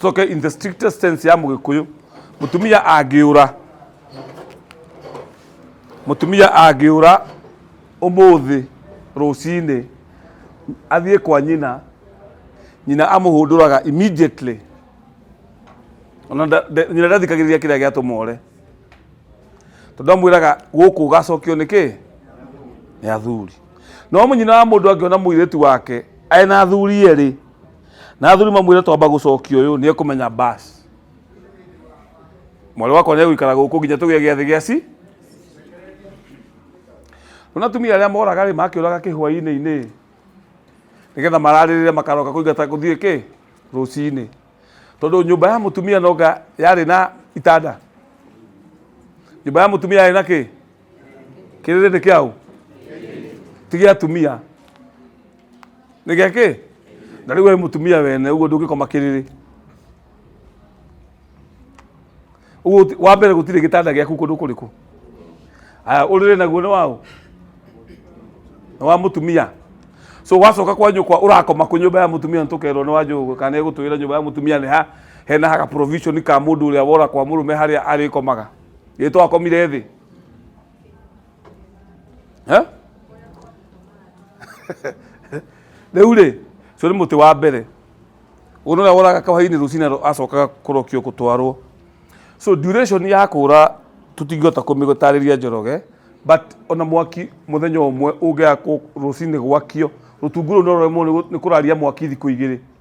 Coke in the strictest sense ya Mũgĩkũyũ, mũtumia angĩũra, mũtumia angĩũra ũmũthĩ rũcinĩ athiĩ kwa nyina, nyina amũhũndũraga immediately. Ona nda- nda- nyina ndathikagĩrĩria kĩrĩa gĩatũma ũre. Tondũ amwĩraga gũkũ ũgacokio nĩ kĩ? Nĩ athuri. No nyina wa mũndũ angĩona mũirĩtu wake arĩ na athuri erĩ, na athuri mamwire twamba gucokia uyu ni ekumenya bas mwari wakwa ni egwikara guku nginya tugie giathi gia ci rona tumia aria moraga ri makiuraga kihwaini ini nigetha mararirire makaroka kuingata guthie ki rucini tondu nyumba ya mutumia noga yari na itanda nyumba ya mutumia yari na ki kiriri ni kiau ti gia atumia nä gä kä na rä u we må tumia wene å guo ndå ngä koma kä rä rä Ũguo wa mbere gũtirĩ gĩtanda gĩaku kũndũ kũrĩkũ aya ũrĩrĩ naguo nĩ waũ nĩ wa mũtumia so wacoka kwa nyũkwa ũrakoma kũ nyũmba ya mũtumia nĩtũkerwo nĩ wa njũgũ kana ĩgũtwĩra nyũmba ya mũtumia nĩ ha hena haka provision ka mũndũ ũrĩa wora kwa mũrũme harĩa arĩkomaga gĩtwakomire thĩ Eh? rĩu rĩ ũcio nĩ mũtĩ wa mbere ũyũ nĩrĩa woraga kahwainĩ rũcinĩ rũ- acokaga kũrokio gũtwarwo so duration ya kũra tũtingĩhota kũmĩgũtarĩria njoroge but ona mwaki mũthenya ũmwe ũngĩaga kũ- rũcinĩ gwakio rũtungu rũu noremwo nĩ kũraria mwaki thikũ igĩrĩ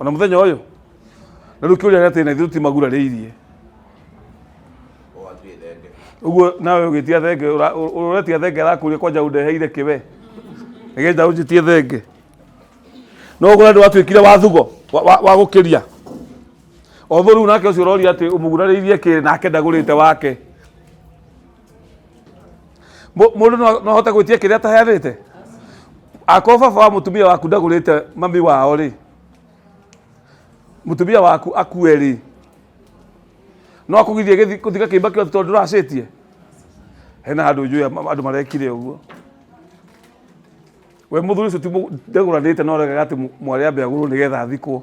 ona muthenya uyu na riu kiuria atä na ithu ti magurariirie uguo nawe ugitia thenge uretia thenge arakuria kwanja undeheire kiwe nigetha unjitie thenge no uguo ndu watuikire wathugo wa- wa wa gukiria otho riu nake ucio uroria ati umugurariirie kiri nake ndagurite wake Mũ- mũndũ no no ahote gwĩtia kĩrĩa ataheanĩte akorwo baba wa mũtumia waku ndagũrĩte mami wao rĩ mũtumia waku akue rĩ no akũgithie gĩthi- gũthiga kĩimba kĩothe tondũ ndũracĩtie hena andũ njũĩ am- andũ marekire ũguo we mũthuri ũcio ti mũ- ndagũranĩte no regaga atĩ mwarĩa mbegũrũ nĩgetha athikwo